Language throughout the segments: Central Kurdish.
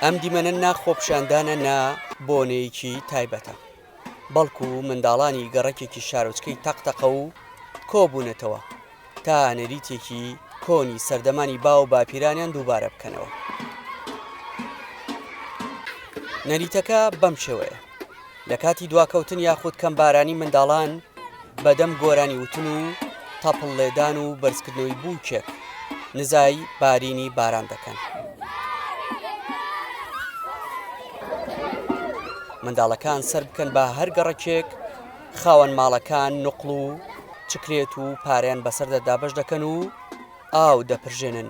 ئەم دیمەنە نا خۆپیشاندانە نا بۆنەیەکی تایبەتە بەڵکو منداڵانی گەڕەکێکی شارۆچکەی تەقتەقە و کۆبوونەتەوە تا نەریتێکی کۆنی سەردەمانی باو باپیرانیان دووبارە بکەنەوە نەریتەکە بەم شێوەیە لە کاتی دواکەوتن یاخود کەم بارانی منداڵان بەدەم گۆرانی وتن و تەپڵ لێدان و بەرزکردنەوەی بووکێک نزای بارینی باران دەکەن منداڵەکان سەر بکەن بە هەر گەڕکێک خاوەن ماڵەکان نقل و چکرێت و پاریان بەسەر دەدابش دەکەن و ئاو دەپرژێنن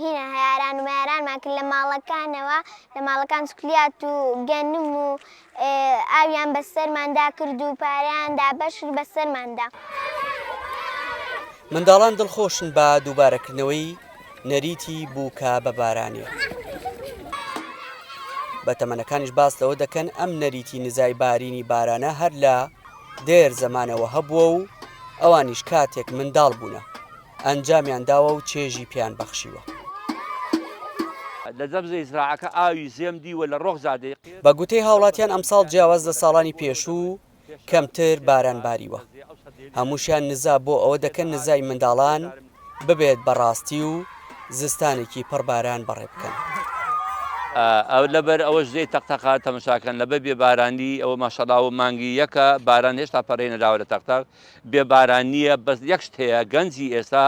هینا، هەیاران و مەیارانمان کرد لە ماڵەکانەوە، لە ماڵەکان چکلیات و گەنم و ئاویان بە سەرماندا کرد و پارەیان دابەش کرد بە سەرماندا. منداڵان دڵخۆشن بە دووبارەکردنەوەی نەریتی بووکە بە بارانێ. بەتەمەنەکانیش باس لەوە دەکەن ئەم نەریتی نزای بارینی بارانە هەر لە دێر زەمانەوە هەبووە و ئەوانیش کاتێک منداڵ بوونە ئەنجامیان داوە و چێژی پێیان بەخشیوە. بە گوتەی هاوڵاتیان ئەمساڵ جیاواز لە ساڵانی پێشوو کەمتر باران باریوە، هەمووشیان نزا بۆ ئەوە دەکەن نزای منداڵان ببێت بە ڕاستی و زستانێکی پڕ باران بەڕێ بکەن. بێ باران نیە بەس یەک شت هەیە گەنجی ئێستا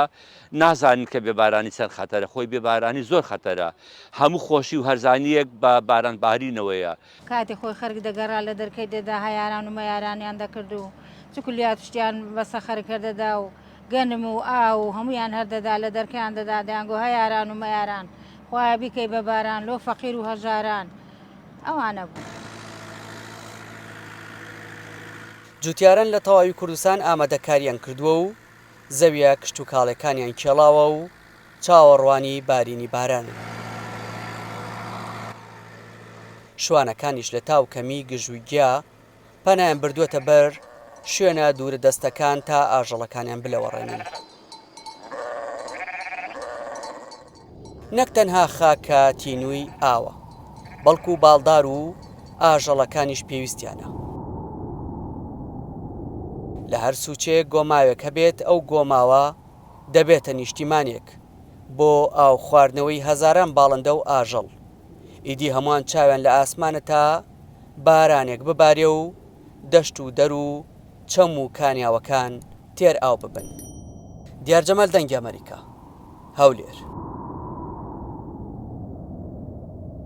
نازانن کە بێ بارانی چەند خەتەرە خۆی بێ بارانی زۆر خەتەرە هەموو خۆشی و هەرزانیەک بە باران بارینەوەیە. کاتی خۆی خەرک دەگەرا لە دەرکەی دەدا هەیاران و مەیارانیان دەکرد و چکولیات و شتیان بەسە خەرک هەر دەدا و گەنم و ئاو و هەموویان هەر دەدا لە دەرکەیان دەدا دەیانگۆ هەیاران و مەیاران خوایە بیکەی بە باران لۆ فەقیر و هەژاران ئەوانە بوون. جوتیاران لە تەواوی کوردستان ئامادەکارییان کردووە و زەویە کشتوکاڵێکانیان کێڵاوە و چاوەڕوانی بارینی بارانن. شوانەکانیش لە تا و کەمی گژ و گیا پەنایان بردووەتە بەر شوێنە دوورە دەستەکان تا ئاژەڵەکانیان بلەوەڕێنن. نەک تەنها خاکە تینووی ئاوە، بەڵکو باڵدار و ئاژەڵەکانیش پێویستیانە. لە هەر سوچەیەک گۆماوێک هەبێت، ئەو گۆماوە دەبێتە نیشتیمانێک بۆ ئاو خواردنەوەی هەزاران باڵندە و ئاژەڵ. ئیدی هەمووان چاویان لە ئاسمانە تا بارانێک ببارێ و دەشت و دەر و چەم و کانیاوەکان تێر ئاو ببن. دیار جەمال دەنگی ئەمەریکا. هەولێر.